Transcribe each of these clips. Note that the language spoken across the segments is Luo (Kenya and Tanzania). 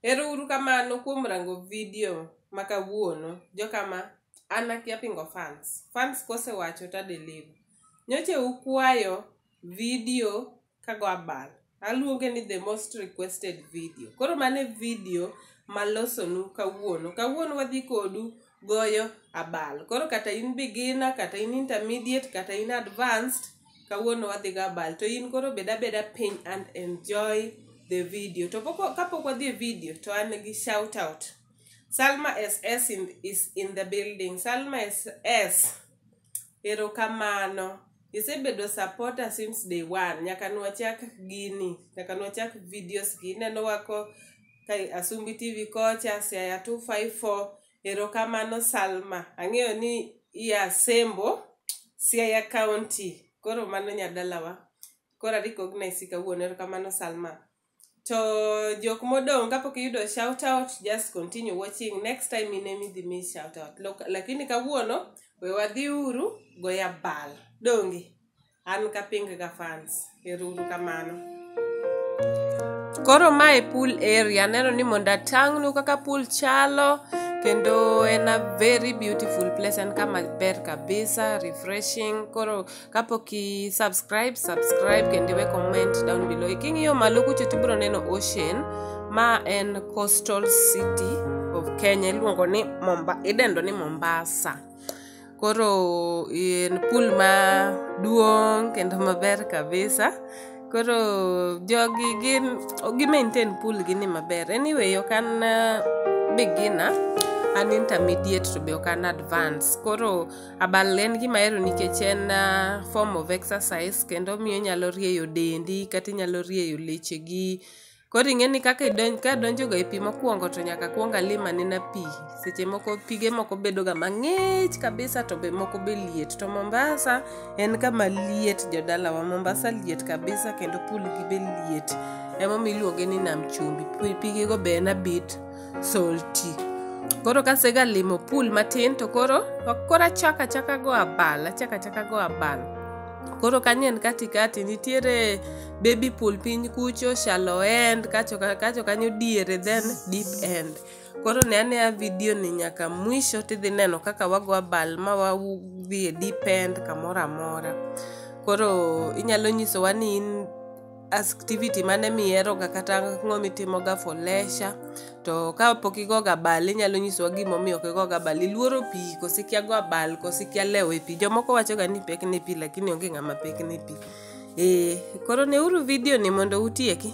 Ero uru kamano kuom rango video ma kawuono. Jokama, an akia pingo fans. Fans kosewacho ta deliver. Nyoche ukwayo video kago abal. Aluonge ni the most requested video. Koro mane video malosonu kawuono. Kawuono wadhi kodu goyo abal koro kata in beginner kata in intermediate kata in advanced kawuono wadhigo abal to in koro bed abeda piny and enjoy the video to poko, kapok wadhi e video to an gi shout out salma ss in, is in the building salma ss Erokamano. Isebedo supporter since day one. Nyaka nwachak gini. Nyaka nwachak videos gi. Ineno wako ka Asumbi TV kocha, Siaya 254. Erokamano Salma. Ang'eyo ni iya Sembo, Siaya County. Koro mano nyadalawa. Koro a recognize kawuono. Erokamano Salma. to jok modong' kapok iyudo shout out just continue watching next time in emi dhi mi shout out Lok- lakini kawuono we wadhi uru goya bal donge an kaping ga fans eruru kamano koro ma e pool area aneno ni mondo atang'nu kaka pool chalo kendo en a very beautiful place en kama ber kabisa refreshing koro kapok i subscribe subscribe kendo iwe comment down below king'iyo malo kucho tibiro neno ocean ma en coastal city of kenya iluongo ni Momba, idendo ni mombasa koro en pool maduong' kendo maber kabisa koro jogi gin gi maintain pool gi ni maber anyway ok an uh, beginner an intermediate to be ok an advance koro Abal en gima ahero nikech en uh, form of exercise kendo miyo inyalo rieyo dendi kata inyalo rieyo lechegi. Koro ing'e ni kaka idonj, ka donjoga e pi mokwongo to nyaka kwong alim anena pi. Seche moko pige moko bedoga mang'ich kabisa to be moko be liet. To Mombasa en kama liet jodalawa. Mombasa liet kabisa kendo pool gi be liet. Emomiyo iluonge ni nam chumbi. Pi- Pigego be en abit. salty koro kasegalimo pool matin to koro koro achako achaka go abal achako achaka go abal koro kanyo en katikati nitiere baby pool piny kucho shallow end kacho ka- kacho kanyo diere then deep end koro ne anea video ni nyaka mwisho tidhi neno kaka wago abal ma wadhi e deep end kamoro amora koro inyalo nyisowa ni in activity mane miheroga kata ang'o mitimoga for leisure to ka pok igoga bal inyalo nyisowa gimomiyo ok igoga bal iluoro pi koso ikia go abal koso ikia lewo e pi jomoko wachoga ni pek ne pi lakini onge ng'ama pek ne pi ee koro neuru vidio ni mondo utieki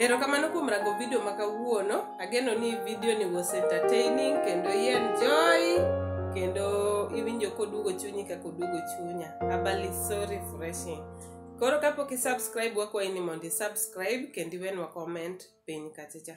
Erokamano kuom rango video ma kawuono. Ageno ni video ni was entertaining kendo i enjoy kendo iwinjo koduogo chunyi kaka oduogo chunya. Abali so refreshing. Koro kapok i subscribe wakwayi ni mondo i subscribe kendo iwenwa comment piny kacha cha.